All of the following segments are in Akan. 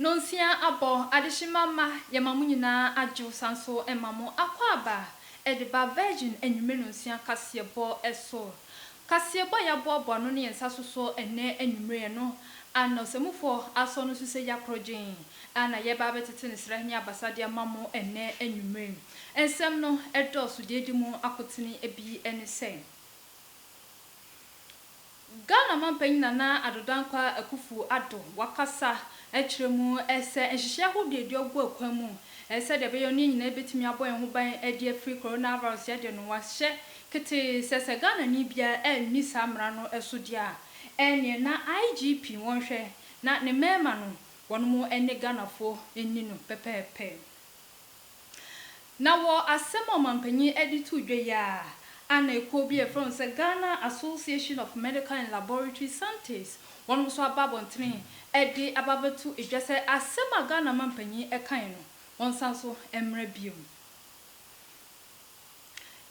Nonsia abɔ adehyema mma yɛma mo nyinaa adwo san so ma mo akwaaba de ba Virgin anwummere nonsia kaseɛbɔ so. Kaseɛbɔ a yɛaboaboa ano ne yɛn nsa so so ɛnnɛ anwummere no, Anna Ɔsɛmufoɔ Asɔ no so sɛ Yɛakorɔgyen. a na yɛreba abɛtete ne srɛ ne abasa de ama mo ɛnnɛ anwummere yi. Nsɛm no dɔɔso. Deɛ ɛdi mu akotene bi ne sɛ, Ghana mampanyin Nana Addo Dankwa Akuffo Addo wakasa akyerɛ mu sɛ nhyehyɛe ahodoɔ a ɛregu kwan mu sɛdeɛ ɛbɛyɛ no yɛn nyinaa bɛtumi abɔ yɛn ho ban de afiri coronavirus yɛ deɛ no, wahyɛ ketee sɛ sɛ Ghanani biara anni saa mmara no so deɛ a, ɛnneɛ na IGP wɔnhwɛ na ne mmarima no Wɔnom ɛne Ghanafoɔ nni no pɛpɛɛpɛ. Na wɔ asɛm a ɔmanpanyin ɛde too dwa yi ara a na ekuo bi a yɛfrɛ wɔn sɛ Ghana Association of Medical and Laboratory Scientists wɔnom nso aba abɔntene ɛde aba abɛto dwa sɛ asɛm a Ghana manpanyin ɛkaeɛ no wɔnsan so mmra bio.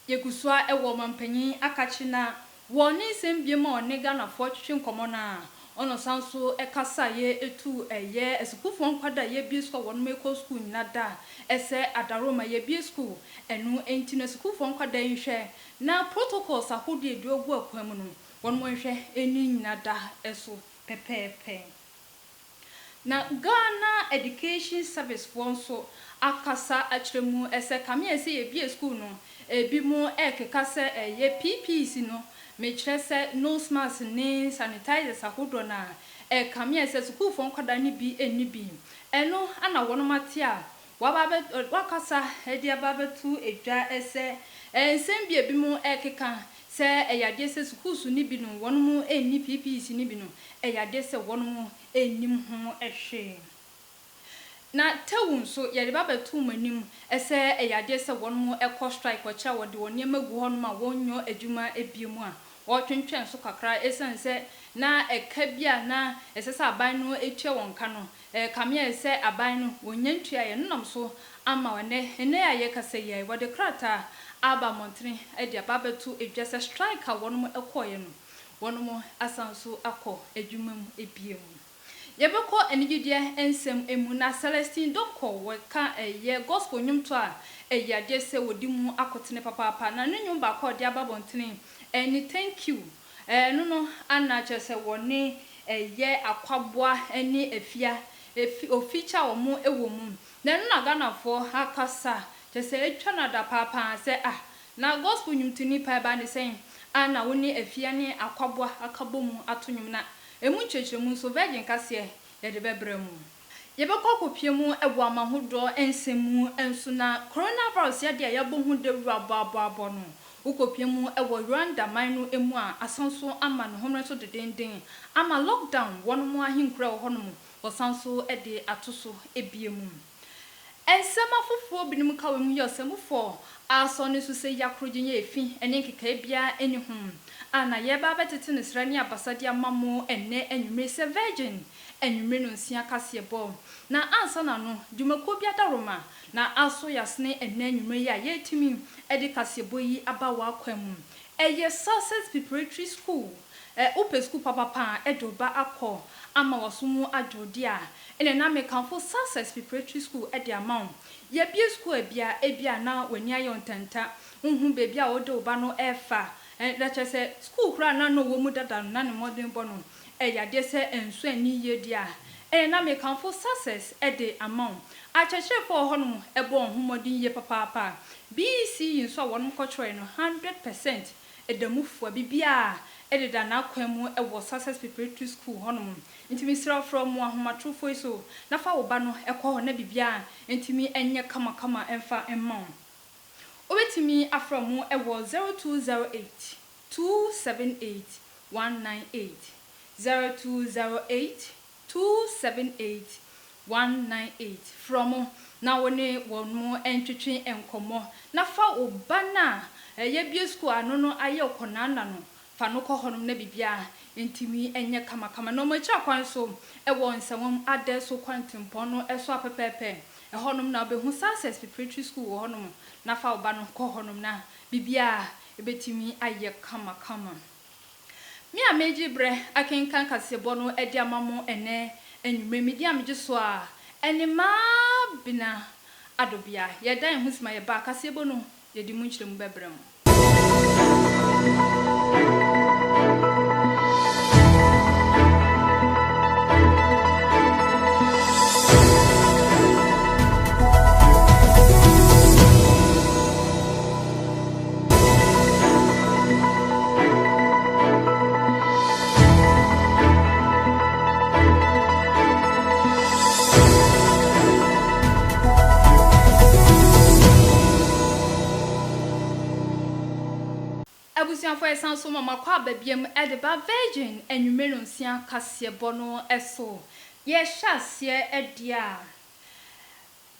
Yɛgu so ara wɔ ɔmampanyin akakyire no ara wɔ ne nsɛm biom a ɔne Ghanafoɔ twetwe nkɔmmɔ no ara ɔna ɔsan nso kasaeɛ ɛtuu ɛyɛ asukuufoɔ nkwadaa a yɛbue sukuu a wɔnom ɛkɔ sukuu nyina da ɛsɛ Adarooma yɛbue sukuu ɛno nti no asukuufoɔ nkwadaa yi nhwɛ na protocols ahodoɔ ɛdie ɔgu akwan mu no wɔnom nhwɛ ɛni nyina da ɛso pɛpɛɛpɛ. Na Ghana Education Service foɔ nso akasa akyerɛ mu sɛ kame ɛsɛ yɛbie school no ebi mo ɛkeka sɛ ɛyɛ PPEs no mekyerɛ sɛ nose mask ne sanitizers ahodoɔ no a ɛkame ɛsɛ sukuufoɔ nkwadaa no bi nni bi ɛno ana wɔnom ate a Waba abɛ wakasa de aba abɛto dwa sɛ nsɛm bi a ebinom rekeka sɛ ɛyɛ adeɛ sɛ sukuusu no bi no wɔnom nni PPC no bi no, ɛyɛ adeɛ sɛ wɔnom nnim ho hwee. Na Teu nso yɛde ba abɛto mo anim sɛ ɛyɛ adeɛ sɛ wɔnom kɔ strike wɔ akyire a wɔde wɔn nneɛma gu hɔnom a wɔnnyɔ adwuma bio mu a wɔretwentwɛn so kakra esiane sɛ na ɛka bi a na ɛsɛ sɛ aban no tua wɔn ka no Ɛrekame ayɛ sɛ aban no wɔnnya ntuaa yɛn honam so amma wo nnɛ. Nnɛ a yɛrekasa yi ara yi, wɔde krataa aba mmɔntene de aba abɛto dwa sɛ strike a wɔnom kɔeɛ no, wɔnom asan nso akɔ adwuma mu bio. Yɛbɛkɔ anigyedeɛ nsɛm mu na Celestine Donkor wɔka ɛyɛ gospel nnwomtoɔ a ɛyɛ adeɛ sɛ wɔde mu akotene papaapa na ne nnwom baako a ɔde aba abɔntene ne Thank you. Ɛno no ana kyerɛ sɛ wɔne ɛyɛ akwaboa ne afia efi ofikyɛ a wɔn wɔ mu na ɛno na Ghanafoɔ akasa kyerɛ sɛ atwa no adapaapaa sɛ ah na gospel nwomtoni paa ɛbaa ne sɛn a na wo ne afia ne akwaboa akabɔ mu ato nwom na ɛmu nkyerɛkyerɛmu nso virgin kaseɛ yɛde bɛbrɛ mo. Yɛbɛkɔ akɔpue mu wɔ amahodoɔ nsɛm mu nso na coronavirus yadeɛ a yɛabɔ ho dawura bɔabɔabɔ no, wokɔpue mu wɔ Rwanda man no mu a, asan nso ama ne homene so dedenden, ama lockdown wɔnom ahenkuro a ɛwɔ hɔnom, wɔsan nso de ato so bio mu. Nsɛm afoforo binom ka wɔ mu yɛ ɔsɛmufo aso no so sɛ ya koro gye nyɛ efi ne nkekae biara nni ho, a na yɛreba abɛtete no srɛ ne abasa de ama mo ɛnnɛ anwummere sɛ Virgin anwummere nnɔnsia kaseɛbɔ. Na ansa na no, dwumakuo bi ada Roma, na aso yɛ asene ɛnnɛ anwummere yi a yɛretumi de kaseɛbɔ yi aba w'akwan mu. Ɛyɛ Sussex Preparatory School. Ɛ wo pɛ sukuu papapa a de wo ba akɔ ama waso mu adwo deɛ a, ɛneɛ na mekamfo Success Preparatory School de ama wo. Yɛabue sukuu a bia ebi a na w'ani ayɛ wo ntanta, wonhu baabi a wode wo ba no refa. Ɛ na kyerɛ sɛ sukuu koraa a na na ɔwɔ mu dada no, na ne mmɔdenbɔ no yɛ adeɛ sɛ nso anni yie deɛ a, ɛneɛ na mekamfo Success de ama wo. Akyerɛkyerɛfoɔ a wɔ hɔnom bɔɔ wɔn ho mmɔden yie papaapa. BECE nso a wɔnom kɔtwerɛeɛ no, hundred percent Ɛda mu fua bibiaa ɛdeda n'akwan mu ɛwɔ Success Preparatory School hɔnom nti mesrɛ wo frɛ ɔmo ahomatrofoɔ yi so na fa wo ba no ɛkɔ hɔ na bibiaa ntumi ɛnyɛ kama kama ɛmfa mma wo. Wobɛtumi afrɛ ɔmo ɛwɔ zero two zero eight two seven eight one nine eight zero two zero eight 278-198. Frɛ wɔn na wo ne wɔn ntwetwe nkɔmmɔ, na fa wo ba no a yɛabue sukuu ano no ayɛ kɔnanna no. Fa no kɔ hɔnom na biribiara ntumi nyɛ kamakama. Na wɔn akyiri kwan so wɔ nsawam adan so kwantempɔn no so a pɛpɛɛpɛ. Ɛhɔnom na wobɛhu Success Preparatory School wɔ hɔnom, na fa wo ba no kɔ hɔnom na biribiara bɛtumi ayɛ kamakama. Me a meegye berɛ akenkan kaseɛbɔ no de ama mo ɛnnɛ anwummerɛ yi, medin a megye so ara ne Maabena Adobea. Yɛda yɛn ho ase ma yɛbaa. Kaseɛbɔ no, yɛde mu nkyerɛmu bɛbrɛ mo. Abusuafo yɛsan so ma makɔ aba biom de ba Virgin anwummere nsia kaseɛbɔ no so. Yɛhyɛ aseɛ deɛ a,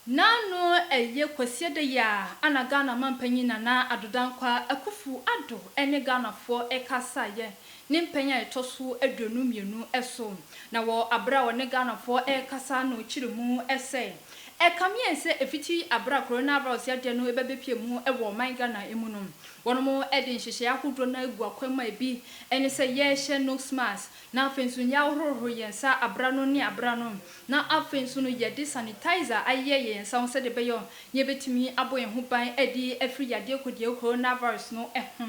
Na no ɛyɛ Kwasiada yi a ana Ghana Mampanyin Nana Addo Dankwa Akuffo Addo ne Ghanafoɔ rekasaeɛ ne mpɛn a ɛtɔ so aduonu mmienu so. Na wɔ aberɛ a ɔne Ghanafoɔ rekasa no kyere mu sɛ, ɛkameɛn sɛ ɛfiti aberɛ a Coronavirus yadeɛ no bɛbɛpie mu wɔ ɔman Ghana mu no, wɔnom de nhyehyɛeɛ ahodoɔ no agu akwan mu a ɛbi ne sɛ yɛrehyɛ nose mask na afei nso yɛahohoro yɛn nsa aberɛ ano ne aberɛ ano. na afei nso no yɛde sanitizer ayeyɛ yɛn nsa ho sɛdeɛ ɛbɛyɛ a yɛbɛtumi abɔ yɛn ho ban adi afiri yadeɛ kodeɛ coronavirus no ho.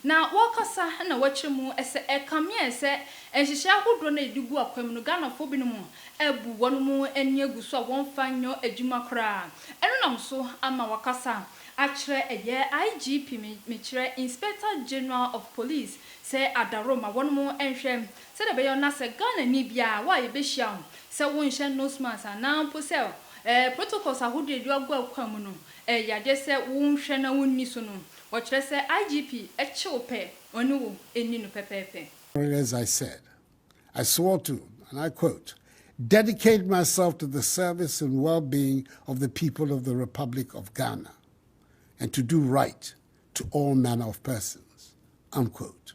Na wɔkasa na wɔkyerɛ mu sɛ ɛkameɛ sɛ nhyehyɛe ahodoɔ no a yɛde gu akwan mu no Ghanafoɔ binom abu wɔn mu ani agu so a wɔmfa nyɔ adwuma koraa. Ɛno nam so ama wɔakasa akyerɛ ɛyɛ IGP, mekyerɛ Inspector General of Police, sɛ adaworoma wɔnom nhwɛ Sɛdeɛ ɛbɛyɔ na sɛ Ghanani biara, wo a yɛbɛhyia wo, sɛ wo nhyɛ nose mask anaa mpo sɛ ɛɛ protocols ahodoɔ a ɛdua gua kwan mu no, ɛyɛ yadeɛ sɛ wo nhwɛ na wo nni so no, wɔkyerɛ sɛ IGP kye wo pɛ, ɔne wo nni no pɛpɛɛpɛ. But as I said, I swore to, and I quote, dedicate myself to the service and well-being of the people of the Republic of Ghana and to do right to all manner of persons, unquote.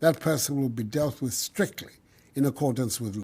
that person will be dealt with strictly in accordance with.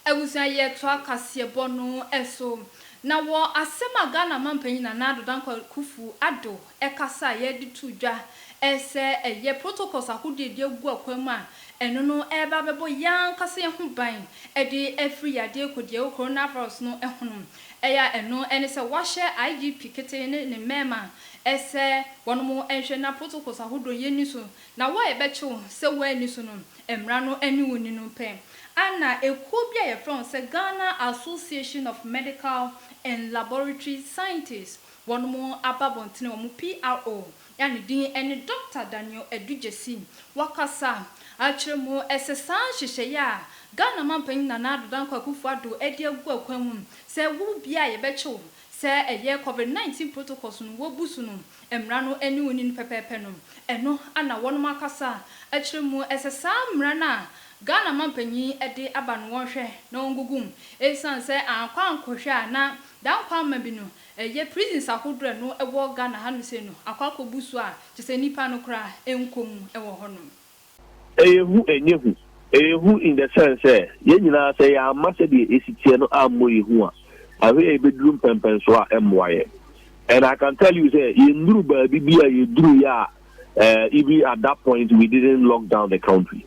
Abusua Yɛtoa kaseɛbɔ no so. Na wɔ asɛm a Ghana Mampanyin Nana Addo Dankwa Kufu Addo ɛkasa a yɛde too dwa sɛ ɛyɛ protocols ahodoɔ a yɛde agu akwan mu a ɛno no ɛreba abɛbɔ yɛn ankasa yɛn ho ban de afiri yadeɛ kodi a ɛwɔ Coronavirus no ho no, ɛyɛ a ɛno ne sɛ wɔahyɛ IGP Ketee ne ne mmɛɛma Ɛsɛ wɔnom nhwɛ na protocols ahodoɔ yɛ nni so na wo a yɛbɛkye wo sɛ woanni so no mmara no ne wo nni no pɛ. Ana ɛkuo bi a yɛfrɛ wɔn sɛ Ghana Association of Medical and Laboratory Scientists wɔnom aba abɔntene wɔn PRO a ne din ne Doctor Daniel Adu Gyasi wakasa akyerɛ mu sɛ saa nhyehyɛeɛ a Ghana Manpanin Nana Addo Dankwa Akufo Addo adi agu akwan mu sɛ wo biara a yɛbɛkye wo Sɛ ɛyɛ Covid 19 protocols no wɔbu so no mmara no ne wonni no pɛpɛɛpɛ no, ɛno na wɔnom akasa akyerɛ mu. Ɛsɛ saa mmara no a Ghana mampanyin de aba no wɔnhwɛ na wɔngugu mu. Ɛsiane sɛ ankɔ ankɔhwɛ a na Dankwaama bi no ɛyɛ prisons ahodoɔ a ɛno ɛwɔ Ghana ha no sei no akɔ akɔbu so a kyerɛ sɛ nnipa no koraa nkɔ mu wɔ hɔnom. Ɛyɛ hu ɛnyɛ hu? Ɛyɛ hu in the sense sɛ yɛn nyinaa sɛ yɛamma sɛdeɛ ɛsi teɛ no ammɔ yɛn hu a, ahwɛ yɛ yɛbɛduru mpɛnpɛnsoɔ a ɛmmoa yɛn. And I can tell you sɛ yɛnduru baabi bi a yɛduruiɛ a eh, even at that point we didn't lock down the country.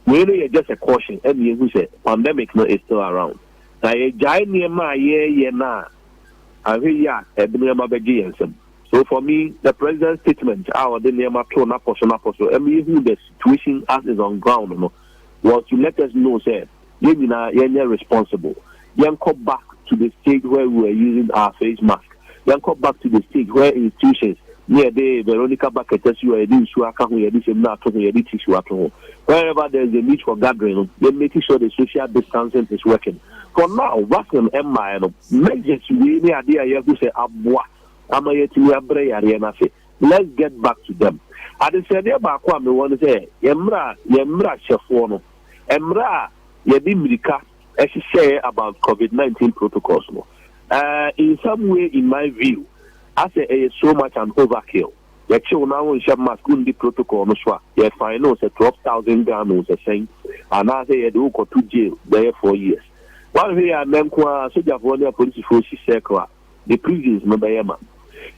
Wei no yɛ just a caution ɛne yɛhu sɛ pandemic no is still around. Na yɛgyae nneɛma a yɛreyɛ no a, ahwɛ yie a ɛde nneɛma bɛgye yɛn nsam. So for me, the President's statement a ɔde nneɛma too n'apɔso n'apɔso ma yɛhuu the situation as is on ground no was to let us know sɛ yɛn nyinaa yɛnyɛ responsible. Yɛnkɔ back to the stage where we were using our face mask. Yɛnkɔ back to the stage where institutions ne yɛde Veronica bucket asi hɔ a yɛde nsuo aka ho, yɛde samina ato ho, yɛde tissue ato ho. Wherever there is a need for gathering no, yɛ make sure the social distancing is working. For now, vaccine mmaeɛ no, measures wei ne adeɛ a yɛahu sɛ aboa. ama yɛatumi abrɛ yareɛ no ase. Let's get back to them. Adesrɛdeɛ baako a mewɔ ne sɛ yɛn mmra yɛn mmrahyɛfoɔ no mmra a yɛde mmirika hyehyɛeɛ about covid nineteen protocols no uh, in some way in my view asɛ ɛyɛ so much an overkill yɛkyew na wonhyɛ mask wondi protocol no so a yɛfine no sɛ twelve thousand Ghana sɛ sɛn anaasɛ yɛde wokɔto jail bɛyɛ four years woanhwɛ yɛ a nnɛ nko a sogyafoɔ ne apolisifoɔ si circle a the prisons no bɛyɛ ma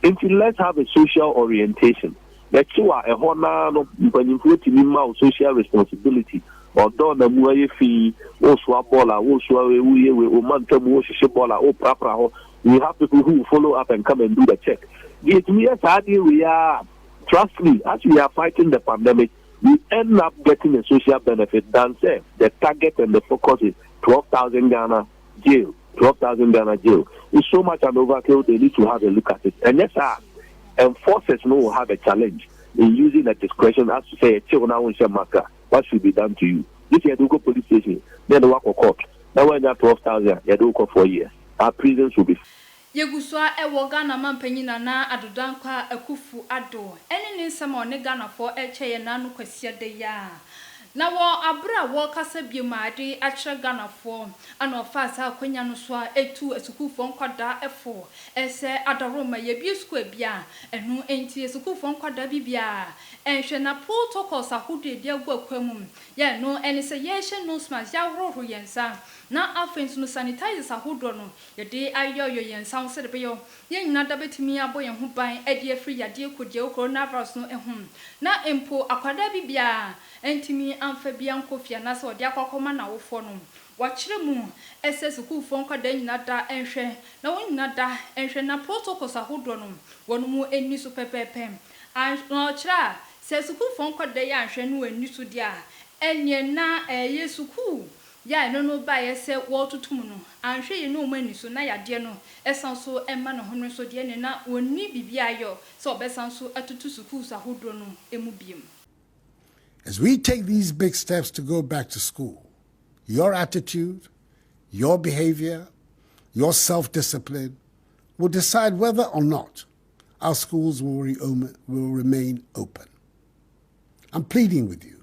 nti let's have a social orientation bɛkyew a ɛhɔ naa no mpanyinfoɔ tumi mma wo social responsibility ɔdɔ na mu ayɛ fi wosoa bɔɔl a wosoa wei woyɛ wei wo ma ntam wohyehye bɔɔl a woprapra hɔ we have people who follow up and come and do the check deɛ ɛtumi yɛ saa deɛ wei a trust me as we are fighting the pandemic we end up getting a social benefit than say the target and the focus is 12,000 Ghana jail twelve thousand Ghana jail is so much an overkill they need to have a look at it ɛnyɛ saa a enforcers no will have a challenge in using the discretion as to sɛ yɛkye wo na wonhyɛ mask a what should be done to you this yɛde wokɔ police station na yɛde wakɔ court na wanya twelve thousand a yɛde wokɔ four years our prisons will be. Yegu so ara wɔ Ghana Mampanyin Nana Addo Dankwa Akuffo Addo ne ne nsɛm a ɔne Ghanafo rekyɛ yɛn nã no Kwasiada yi ara. Na wɔ aber a wɔrekasa biom a dze akyerɛ Ghanafo na ɔfaa saa akwanya no so ara tuu asukuufo nkwadaa fo sɛ adaworoma yebue sukuu ebi a ɛno ntsi asukuufo nkwadaa bi biara nnhwɛ na protocols ahodoɔ a yɛde agu akwan mu yɛ ɛno ne sɛ yɛrehyɛ nose mask, yɛahohoro yɛn nsa na afei nso no sanitizers ahodoɔ no Yɛde ayeyɔyeyɔ yɛn nsa ho sɛdeɛ ɛbɛyɛ yɛn nyinaa da bɛtumi abɔ yɛn ho ban de afiri yadeɛ kodiawu coronavirus no ho. Na mpo akwadaa bi biara antumi amfa bi ankɔ fie anaasɛ ɔde akɔ akɔma n'awofoɔ no. Wɔakyerɛ mu sɛ sukuufoɔ nkwadaa nyinaa da nhwɛ na wɔn nyinaa da nhwɛ na protocols ahodoɔ no wɔn mu nni so pɛpɛɛpɛ. Anhw na wɔkyerɛ a sɛ sukuufoɔ nkwadaa yi anhwɛ na wɔanni so deɛ a ɛnneɛ na ɛyɛ sukuu Yɛ a ɛno no baeɛ sɛ wɔretoto mu no, anhwɛ yie na wɔn ani so, na yadeɛ no san nso ma ne ho no nso deɛ ɛneɛ na wɔnni biribiara ayɔ sɛ wɔbɛsan nso atoto sukuus ahodoɔ no mu biom. As we take these big steps to go back to school, your attitude, your behavior, your self discipline will decide whether or not our schools will remain open. I'm pleading with you.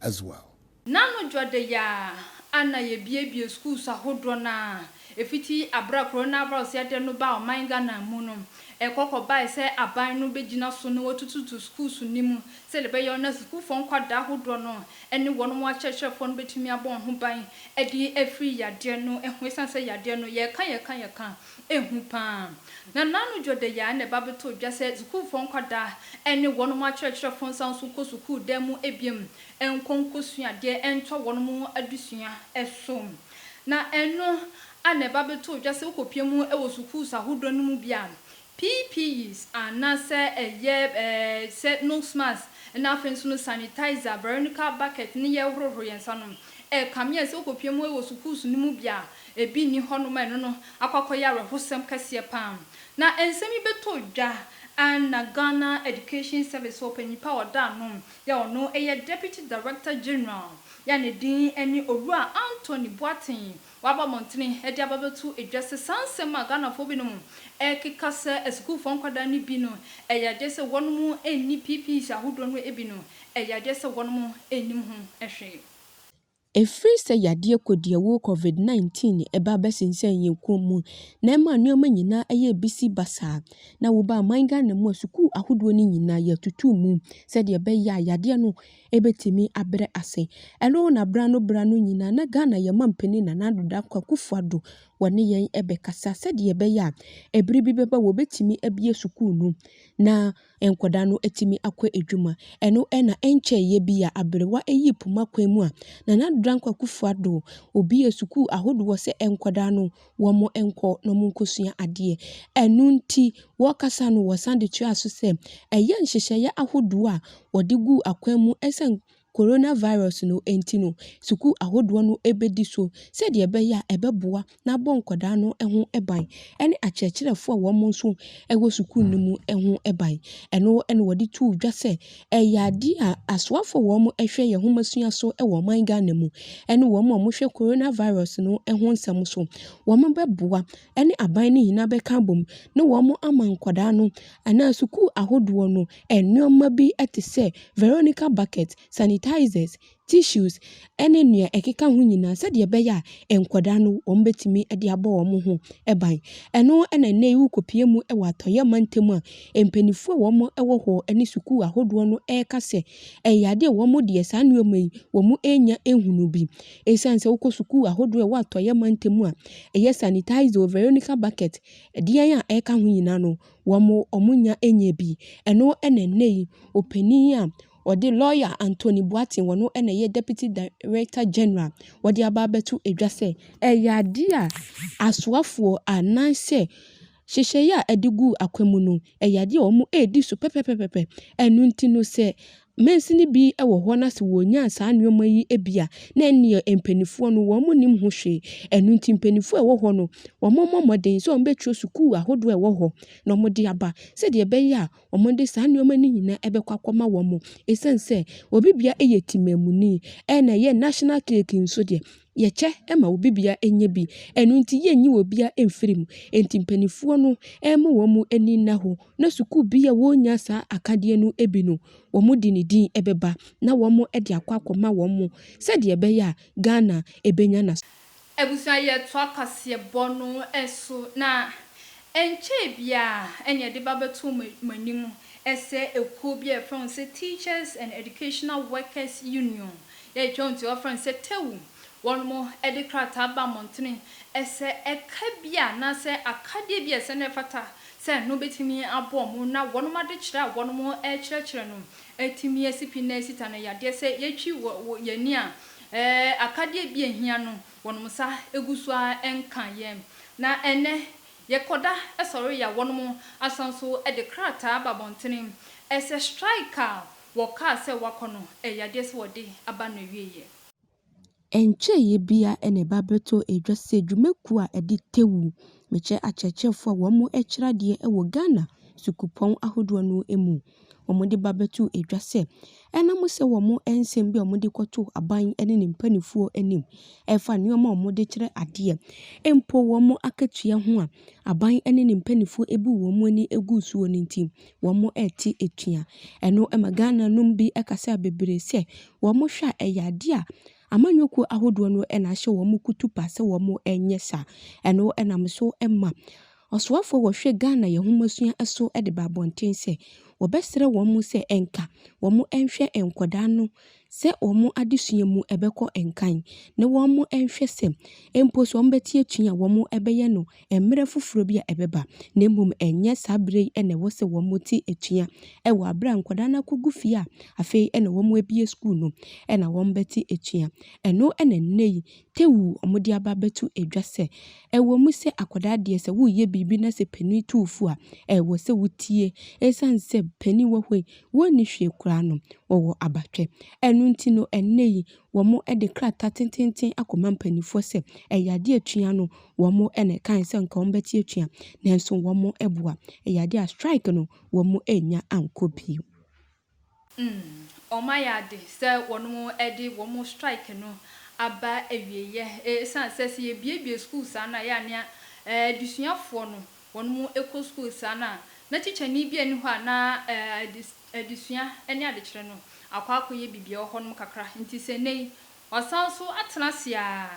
as well. Na no dwɔda yi ara a na yɛabiebie schools ahodoɔ no ara, ɛfiti aberɛ a coronavirus yadeɛ no baa ɔman Ghana mu no, ɛkɔ kɔbaeɛ sɛ aban no bɛgyina so na wɔatututu schools no mu sɛdeɛ ɛbɛyɛ na sukuufoɔ nkwadaa ahodoɔ no ne wɔn akyerɛkyerɛfoɔ no bɛtumi abɔ wɔn ho ban de afiri yadeɛ no ho ɛsiane sɛ yadeɛ no yɛka yɛka yɛka Ehu paa. Na naanu Dwodeya a na ɛba bɛtoo dwa sɛ sukuufɔɔ nkwadaa ne wɔnom akyerɛkyerɛfo nsan nso nkɔ sukuu dan mu biom nkɔ nkɔsua adeɛ ntoa wɔnom adesua so. Na ɛno a na ɛba bɛtoo dwa sɛ wokɔpue mu wɔ sukuus ahodoɔ no mu bi a, PPEs anaasɛ ɛyɛ sɛ nose mask na afei nso no sanitizer, veronical bucket ne yɛhohoro yɛn nsa no, ɛkame yɛn sɛ wokɔpue mu wɔ sukuus no mu bi a, Ebi nni hɔnom a ɛno no akɔ akɔyɛ awerɛhosɛm kɛseɛ pa ara. Na nsɛm yi bɛtɔ dwa a na Ghana Education Service hɔ ɔpanyin pa a ɔda ano yɛ ɔno yɛ Deputy Director General a ne din ne Owura Anthony Boateng waba mmɔntene de aba abɛto dwa sɛ saa nsɛm a Ghanafoɔ binom rekeka sɛ asukuufoɔ nkwadaa no bi no ɛyɛ adeɛ sɛ wɔnom nni PPEs ahodoɔ no bi no ɛyɛ adeɛ sɛ wɔnom nnim ho hwee. Ɛfiri sɛ yadeɛ kɔdiawuo Covid 19 ɛbaa bɛsensɛn yɛn kɔn mu na ɛmaa nnoɔma nyinaa ɛyɛɛ bisi basaa na wobaa ɔman Ghana mu a sukuu ahodoɔ no nyinaa yɛtutuu mu sɛdeɛ ɛbɛyɛ a yadeɛ no ɛbɛtumi abrɛ ase. Ɛno na berɛ ano berɛ ano nyinaa na Ghana yɛn mampanin Nana Addo Dankwa Akuffo Addo wɔne yɛn ɛbɛkasa sɛdeɛ ɛbɛyɛ a ɛberɛ bi bɛba wɔbɛtumi abue sukuu no na nkwadaa no atumi akɔ adwuma. Ɛno na ɛnkyɛeɛ bi a aberewa yii poma kwan mu a Nana Dankwa Akufo Addo obuee sukuu ahodoɔ sɛ nkwadaa no wɔnkɔ na wɔnkɔsua adeɛ. Ɛno nti wɔkasa no wɔsan de toaa so sɛ ɛyɛ nhyehyɛeɛ ahodoɔ a wɔde guu akwan mu sɛ Coronavirus no nti no, sukuu ahodoɔ no bɛdi so sɛdeɛ ɛbɛyɛ a ɛbɛboa na abɔ nkwadaa no ho ban ne akyerɛkyerɛfoɔ a wɔn nso wɔ sukuu no mu ho ban. Ɛno na wɔde too dwa sɛ, ɛyɛ adeɛ a asoafoɔ a wɔhwɛ yɛn nhomasua so wɔ ɔman Ghana mu ne wɔn a wɔhwɛ Coronavirus no ho nsɛm so wɔbɛboa ne aban no nyinaa bɛka abom ne wɔn ama nkwadaa no anaa sukuu ahodoɔ no nneɛma bi te sɛ Veronica bucket, sanitizers, tissues ne nea ɛkeka ho nyinaa sɛdeɛ ɛbɛyɛ a nkwadaa no wɔbɛtumi de abɔ wɔn ho ban. Ɛno na nnɛ yi wokɔpie mu wɔ atɔeɛ mantam a mpanimfoɔ a wɔwɔ hɔ ne sukuu ahodoɔ no reka sɛ ɛyɛ adeɛ a wɔn deɛ saa nneɛma yi wɔn renya nhunu bi. Esiane sɛ wokɔ sukuu ahodoɔ a ɛwɔ atɔeɛ mantam a ɛyɛ sanitized wɔ Veronica Bucket, ɛdeɛn a ɛka ho nyinaa no, wɔn wɔn nya nyɛ bi. Ɛno na ɛnnɛ yi ɔpanin a ɔde lawyer Anthony Boateng ɔno na ɛyɛ Deputy Director General wɔde aba abɛto dwa sɛ ɛyɛ adeɛ a asoafoɔ anaasɛ Nhyehyɛeɛ a ɛde guu akwa mu no, ɛyɛ adeɛ a wɔredi so pɛpɛpɛpɛpɛ. Ɛno nti no, sɛ mansini bi wɔ hɔ na sɛ wɔnyaa saa nneɛma yi bi a, na ɛnneɛ mpanimfoɔ no wɔnnim ho hwee. Ɛno nti mpanimfoɔ a ɛwɔ hɔ no, wɔmmɔ mmɔden sɛ wɔbɛtwerɛ sukuu ahodoɔ a ɛwɔ hɔ na wɔde aba sɛdeɛ ɛbɛyɛ a, wɔde saa nneɛma no nyinaa bɛkɔ akɔma wɔn. Ɛsiane sɛ obi bia yɛ timaamuni na ɛyɛ national cake nso deɛ, yɛkyɛ ma obi bia nya bi. Ɛno nti yɛnyi obi a mfiri mu. Nti mpanimfoɔ no ɛma wɔn ani nna hɔ na sukuu bi a wɔnya saa akadeɛ no bi no, wɔde ne din bɛba na wɔde akɔ akɔma wɔn sɛdeɛ ɛbɛyɛ a Ghana bɛnya n'as. Abusua yɛtoa kwasiɛbɔ no so na ɛnkyɛe biara ɛne ɛde ba bɛto mo anim sɛ ɛkuo bi a yɛfrɛ ho sɛ Teachers and Educational Workers Union, yɛde twam nti wɔfrɛ no sɛ TEWU, wɔnom de krataa ba mmɔntene sɛ ɛka bi a anaasɛ akadeɛ bi a ɛsɛ na ɛfata sɛ ɛno bɛtumi aboa mo na wɔnom adekyerɛ a wɔnom rekyerɛkyerɛ no Etumi yɛ sipi na esita no yadeɛ sɛ yɛtwi wɔ wɔ yɛn ani a, ɛɛ akadeɛ bi a ehia no wɔnom nsa egu so ara nka yɛn. Na ɛnnɛ yɛkɔda sɔre ya wɔnom asan so de krataa aba abɔntene ɛsɛ strike a wɔkaa sɛ wɔakɔ no ɛyɛ adeɛ sɛ wɔde aba n'awieɛ. Ɛnkyɛeɛ biara na ɛba bɛtɔɔ dwa sɛ dwumakuo a ɛde Tewu mekyɛ akyerɛkyerɛfoɔ a wɔkyerɛ adeɛ wɔ Ghana sukuupɔn ahodoɔ no mu. Wɔde ba bɛtoo dwa sɛ, ɛnam sɛ wɔn nsɛm bi a wɔde kɔto aban ne ne mpanimfoɔ anim ɛfa nneɛma a wɔde kyerɛ adeɛ mpo wɔn akatua ho a, aban ne ne mpanimfoɔ abu wɔn ani agu soɔ no nti, wɔrete atua. Ɛno ma Ghananom bi kasa bebree sɛ wɔhwɛ a, ɛyɛ adeɛ a amanyɔkuo ahodoɔ no na ahyɛ wɔn kutupa sɛ wɔnyɛ saa. Ɛno nam so ma ɔsoafoɔ a ɔhwɛ Ghana Yɛn Nhomasua so de ba abɔnten sɛ wɔbɛsrɛ wɔn sɛ nka wɔnhwɛ nkwadaa no sɛ wɔn adesua mu ɛbɛkɔ nkan na wɔnhwɛ sɛ mpo sɛ wɔbɛte atua a wɔbɛyɛ no mmerɛ foforɔ bi a ɛbɛba na mmom ɛnyɛ saa berɛ yi na ɛwɔ sɛ wɔte atua wɔ aberɛ a nkwadaa no akɔgu fie a afei na wɔabue sukuu no na wɔbɛte atua. Ɛno na nnɛ yi tewoo wɔde aba abɛto dwa sɛ ɛwɔ mu sɛ akwadaa deɛ sɛ woreyɛ biribi na sɛ panin tu wo fo a ɛwɔ sɛ wotie ɛsiane sɛ panin wɔ hɔ yi wɔnni hwee koraa no, wɔwɔ abatwɛ. Ɛno nti no, ɛnnɛ yi, wɔde krataa tenteenten akɔma mpanimfoɔ sɛ ɛyɛ adeɛ a atua no, wɔn na ɛkae sɛ anka wɔbɛte atua, nanso wɔammoa. Ɛyɛ adeɛ a strike no, wɔannya ankɔ bio. Mm, wɔayɛ ade sɛ wɔde wɔn strike no aba awieeɛ, ɛsiane sɛ sɛ yɛbuebue sukuu saa no a, ɛyɛ a na adesuafoɔ no wɔn mo ɛkɔ sukuu saa no a, na tikyani bi a ɛni hɔ a na adesua ne adekyerɛ no akɔ akɔ yɛ biribi a ɛwɔ hɔ nom kakra. Nti sɛ nnɛ yi wɔasan nso atena ase a,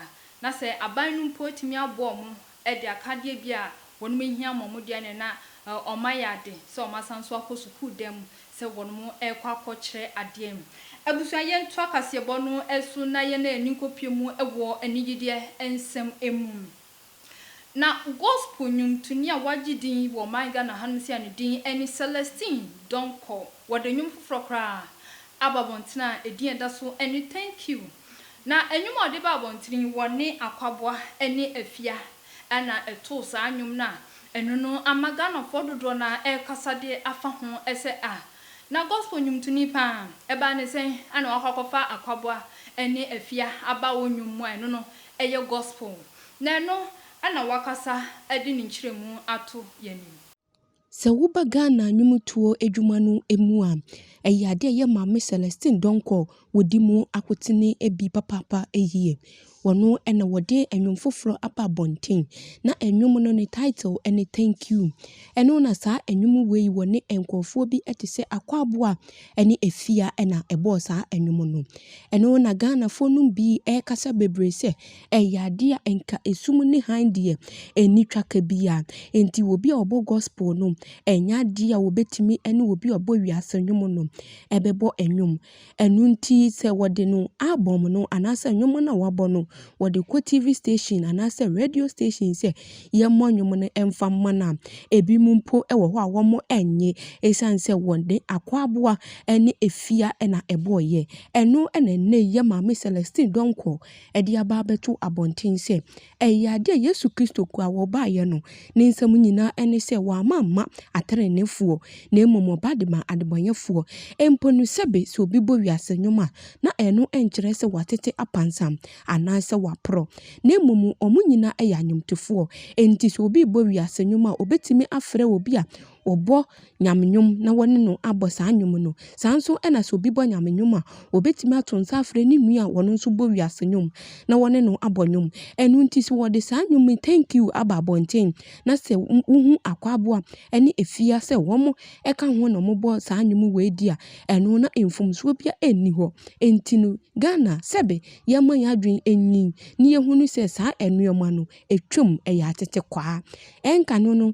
na sɛ aban no mpo atumi aboa wɔn de akadeɛ bi a wɔn mo hia ama wɔn deɛ neɛ na wɔn ayɛ ade sɛ wɔn asan nso akɔ sukuu dan mu sɛ wɔn mo ɛrekɔ akɔ kyerɛ adeɛ. Abusua yɛn toa kaseɛbɔ no so na yɛn ani nkɔ pie mu wɔ anigyedeɛ nsɛm mu. Na gospel nnwomtoni a wagye din wɔ ɔman Ghana ha nom sei a ne din ne Celestine Donkor. Wɔde nnwom foforɔ koraa aba abɔntene a edin a ɛda so ne Thank You. Na nnwom a ɔde ba abɔntene yi wɔne Akwaboa ne Afia na ɛtoo saa nnwom no a ɛno no ama Ghanafoɔ dodoɔ no ara rekasa de afa ho sɛ ah na gospel nnwomtoni pa ara ɛbaa ne sɛn a na wakɔ akɔfa Akwaboa ne Afia aba wo nnwom mu a ɛno no ɛyɛ Gospel, na ɛno na wakasa de ne nkyerɛmu ato yɛn anim. Sɛ woba Ghana nnwomtoɔ adwuma no mu a, ɛyɛ adeɛ a ɛyɛ Maame Celestine Donkor wɔdi mu akotene bi papaapa yie. Wɔno na wɔde nnwom foforɔ aba abɔnten, na nnwom no ne title ne Thank You. Ɛno na saa nnwom wei wɔne nkorɔfoɔ bi te sɛ Akwaabo a ɛne Afia na ɛbɔɔ saa nnwom no. Ɛno na Ghanafoɔ nom bi ɛrekasa bebree sɛ ɛyɛ adeɛ a nka esum ne hann deɛ ɛnni twaka biara. Enti obi a ɔbɔ gospel no ɛnyɛ adeɛ a wɔbɛtumi ɛne obi a ɔbɔ wiase nnwom no ɛbɛbɔ nnwom. Ɛno nti sɛ wɔde no album no anaasɛ nnwom no a wabɔ no wɔde kɔ TV station anaasɛ radio station sɛ yɛmmɔ nnwom no mfa mma no a, ebinom mpo wɔ hɔ a wɔannye esiane sɛ wɔn de akwaboa ne afia na ɛbɔeɛ. Ɛno na ɛnnɛ yi yɛn Maame Celestine Donkor de aba abɛto abɔnten sɛ ɛyɛ adeɛ a Yesu Kristo kura a ɔbaeɛ no, Ne nsɛm nyinaa ne sɛ wamma amma ateneneefoɔ, na mmom ɔba de maa adebɔneyɛfoɔ. Mpo no, sɛbe sɛ obi bɔ wiase nnwom a, na ɛno nkyerɛ sɛ watete apansam, anaa sɛ waporɔ. Na mmom wɔn nyinaa yɛ anwomtofoɔ. Enti sɛ obi rebɔ wiase nnwom a, ɔbɛtumi afrɛ obi a wɔbɔ Nyame nnwom na wɔne no abɔ saa nnwom no. Saa nso na sɛ obi bɔ Nyame nnwom a, wɔbɛtumi ato nsa afrɛ ne nua a ɔno nso bɔ wiase nnwom na wɔne no abɔ nnwom. Ɛno nti sɛ wɔde saa nnwom yi Thank you aba abɔnten na sɛ wohu Akwaboa ne Afia sɛ wɔka ho na wɔbɔ saa nnwom wei di a, ɛno na mfomsoɔ biara nni hɔ. Enti no, Ghana sɛbe yɛmma yɛn adwene nnyin na yɛhunu sɛ saa nnoɔma no, ɛtwam, ɛyɛ atetekwaa. Ɛnka no no,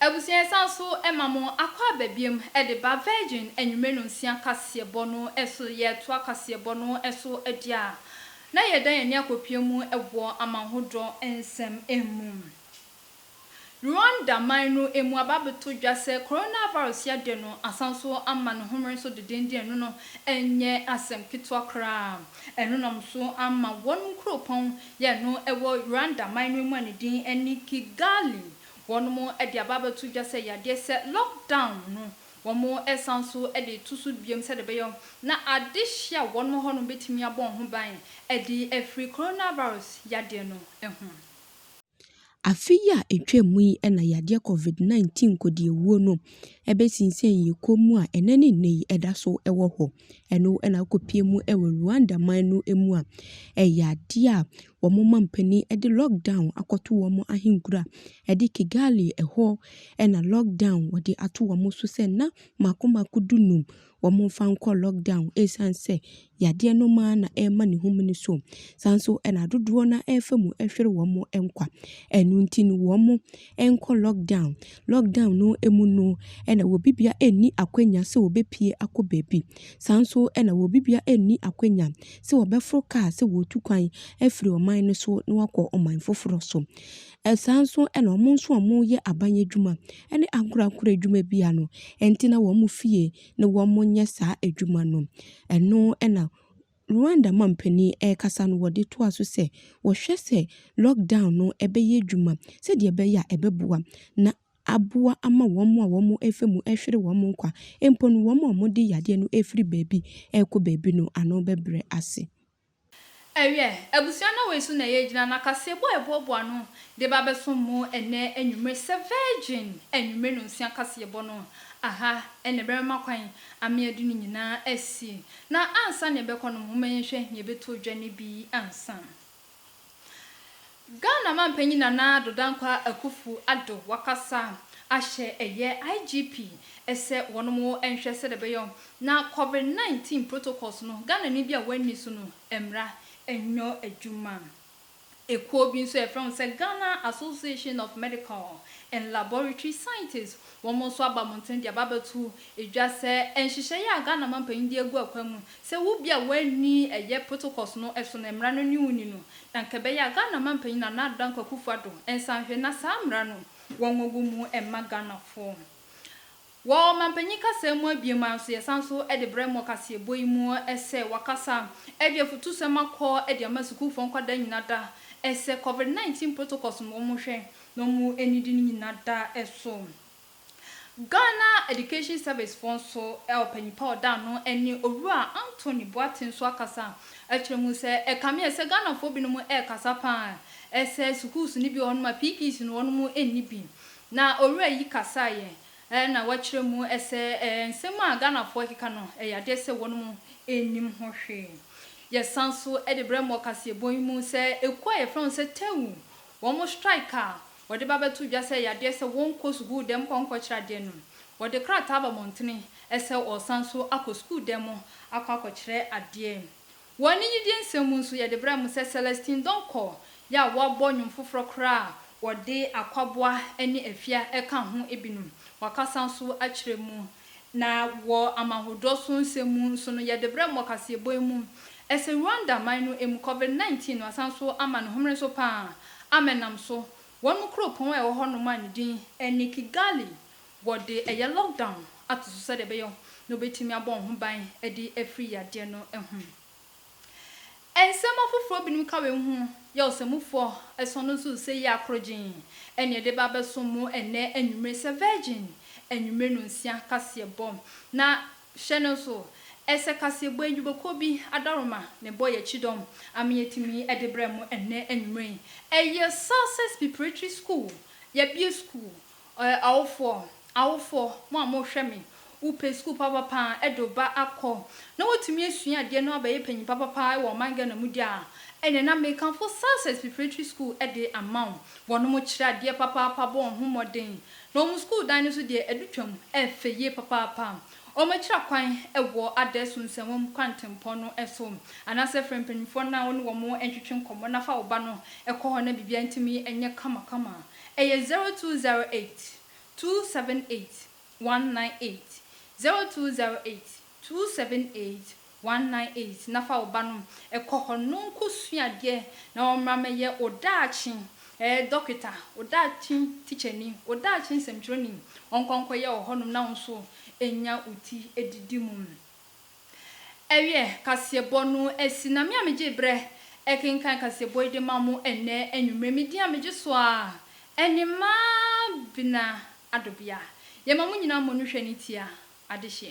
Abusua yɛsan so ma mo akwaaba biom de ba Virgin anwummere nonsia kaseɛbɔ no so yɛretoa kaseɛbɔ no so adi a na yɛredan yɛn ani akɔpue mu wɔ amanhodɔ nsɛm mu. Rwanda man no mu aba abɛto dwa sɛ coronavirus yadeɛ no asan so ama ne homere so dedenden ɛno no nyɛ asɛm ketewa koraa ɛno nam so ama wɔnom kuropɔn Yɛn no ɛwɔ Rwanda man no mu a ne din ɛne Kigali. Wɔnom ɛde aba abɛto dwa sɛ yadeɛ sɛ lock down no wɔn ɛsan so ɛde reto so biom sɛdeɛ ɛbɛyɔ na adehyeɛ a wɔnom hɔ nom bɛtumi abɔ wɔn ho ban ɛde afiri coronavirus yadeɛ no ho. Afe yi a etwaam mu yi na yadeɛ Covid 19 nkɔdiawuo no bɛsinsɛn yɛn kɔn mu a ɛnnɛ ne nnɛ yi ɛda so wɔ hɔ. Ɛno na akɔpie mu wɔ Rwanda man no mu a ɛyɛ adeɛ a wɔn mampanin de lockdown akɔto wɔn ahenkura de Kigali ɛhɔ na lockdown wɔde ato wɔn so sɛ nna mmaako mmaako du nnum wɔmfa nkɔ lockdown ɛsiane sɛ yadeɛ no mu ara na ɛrema ne ho mene so. Saa nso na dodoɔ no ara refa mu hwere wɔn nkwa. Ɛno nti no wɔnkɔ lockdown. Lockdown no mu no na obi biara nni akwanya sɛ ɔbɛpue akɔ baabi. Saa nso na obi biara nni akwanya sɛ ɔbɛforo kaa sɛ ɔretu kwan afiri ɔman no so na wakɔ ɔman foforɔ so. Saa nso na wɔn nso a wɔyɛ aban adwuma ne ankorankoro adwuma biara no, ɛnte na wɔn fie na wɔnyɛ saa adwuma no. Ɛno na Rwanda manpanin rekasa no wɔde toa so sɛ, wɔhwɛ sɛ lockdown no bɛyɛ adwuma sɛdeɛ ɛbɛyɛ a ɛbɛboa na aboa ama wɔn a wɔfa mu hwere wɔn nkwa mpo no wɔn a wɔde yadeɛ no firi baabi rekɔ baabi no ano bɛbrɛ ase. Ɛyɛ abusua no wei so na yɛgyina na kaseɛbɔ a ɛboaboa no de ba bɛsom mo ɛnnɛ anwummere sɛ Virgin anwummere nonsia kaseɛbɔ no. Aha na ɛbɛma kwan ama yɛde no nyinaa asi. Na ansa na yɛbɛkɔ no, momma yɛnhwɛ nea ɛbɛtɔ dwa no bi ansa. Ghana Mampanyin Nana Addo Dankwah Akufu Addo wakasa ahyɛ ɛyɛ IGP sɛ wɔnom nhwɛ sɛdeɛ ɛbɛyɔ na Covid 19 protocols no Ghanani bi a wanni so no mmra nyɔ adwuma. Ekuo bi nso a yɛfrɛ ho sɛ Ghana Association of Medical and Laboratory Scientists Wɔn nso aba mmɔnten de aba abɛto dwa sɛ nhyehyɛe a Ghana mampanyin de agu akwan mu sɛ wo bi a woanni ɛyɛ protocols no so na mmara no ne wo nni no, na anka ɛbɛyɛ a Ghana mampanyin Nana Addo Dankwa Akufo Addo nsa nhwɛ na saa mmara no wɔngogu mu mma Ghanafo. Wɔ ɔmampanyin kasaa mu abien mu ara nso yɛsan nso de brɛ mo wɔ kaseɛbɔ yi mu sɛ wakasa de afutusɛm akɔ de ama sukuufo nkwadaa nyina da sɛ Covid 19 protocols no wɔnhwɛ na ɔmo anidi no nyina da so. Ghana Education Service foɔ nso ɔpanyin pa a ɔda ano ne Owura Anthony Boateng nso akasa akyerɛ mu sɛ ɛkame sɛ Ghanafoɔ binom ɛɛkasa paa sɛ sukuus no bi wɔ hɔ nom a PPs no wɔnom nni bi. Na Owura yi kasaeɛ na wakyerɛ mu sɛ nsɛm a Ghanafoɔ ɛkeka no ɛyɛ adeɛ sɛ wɔnom nnim ho hwee. Yɛsan so de brɛ mo ɔkaseɛbɔ yi mu sɛ ekuo a yɛfrɛ ho sɛ Tewu Wɔn strike a wɔde ba bɛto dwa sɛ yadeɛ sɛ wɔn nkɔ sukuu dɛm nkɔ nkɔkyerɛ adeɛ no wɔde krataa aba mɔntene sɛ wɔresan so akɔ sukuu dɛm mu akɔ akɔkyerɛ adeɛ. Wɔ anigyedie nsɛm mu nso yɛde brɛ mo sɛ Celestine Donkor yɛ a wabɔ nnwom foforɔ koraa a wɔde akwaboa ne afia ɛka ho binom wakasa nso akyerɛ mu Na wɔ amahodɔ so nsɛm mu nso no, yɛde brɛ mo wɔ kaseɛbɔ yi mu. Ɛsɛ Rwanda man no mu, Covid 19 no asan so ama ne homene so paa a menam so. Wɔn mu kuropɔn a ɛwɔ hɔnom a ne din ne Kigali, wɔde ɛyɛ lockdown ato so sɛdeɛ ɛbɛyɛ na wɔbɛtumi abɔ wɔn ho ban de afiri yadeɛ no ho. Nsɛm afoforo binom ka wei ho yɛ ɔsɛmufo ason no nso sɛ yɛ akoro gyenn, ɛnna ɛde ba abɛsom mo ɛnnɛ anwummere sɛ Virgin anwummere nonsia kaseɛbɔ. Na hyɛ no nso sɛ kaseɛbɔ yi dwumakuo bi adaworoma na ɛbɔ yɛn kyidɔm ama yɛatumi de brɛ mo ɛnnɛ anwummere yi. Ɛyɛ Success Preparatory School, yɛabue sukuu Ɔyɛ awofoɔ, awofoɔ, mo a mo hwɛ me, wo pɛ sukuu papapaa ɛde wo ba akɔ, na watumi asua adeɛ na wabɛyɛ panyin papapaa ɛwɔ ɔman Ghana mu deɛ a, ɛneɛ na mekamfo Success Preparatory School ɛde ama wo. Wɔnom kyerɛ adeɛ papaapa bɔ wɔn ho mmɔden, na wɔn sukuu dan no nso deɛ ɛdu twam ɛfɛ yie papaapa. Wɔn akyira kwan ɛwɔ Adaeso Nsɛnwam Kwantempɔn no so, anaasɛ frɛ mpaninfoɔ na wone wɔn ntwetwe nkɔmmɔ na fa wo ba no kɔ hɔ na biribiara ntumi nyɛ kama kama. Ɛyɛ zero two zero eight two seven eight one nine eight zero two zero eight two seven eight one nine eight na fa wo ba no kɔ hɔ no nko sua adeɛ na ɔmmra mɛyɛ wo daakye eh dɔketa wo daakye tikyani wo daakye nsɛmtwerɛni ɔnkɔ nkɔyɛ wɔ hɔ nom na wo nso ɛnya wo ti didi mu. Ɛyɛ kaseɛbɔ no asi na me a megyee berɛ kenkan kaseɛbɔ yi de maa mo ɛnnɛ anwummerɛ. Me din a megye so ara ɛne Mabena Adobea. Yɛma mo nyinaa mmɔ no hwɛ ne tia. Adehyeɛ.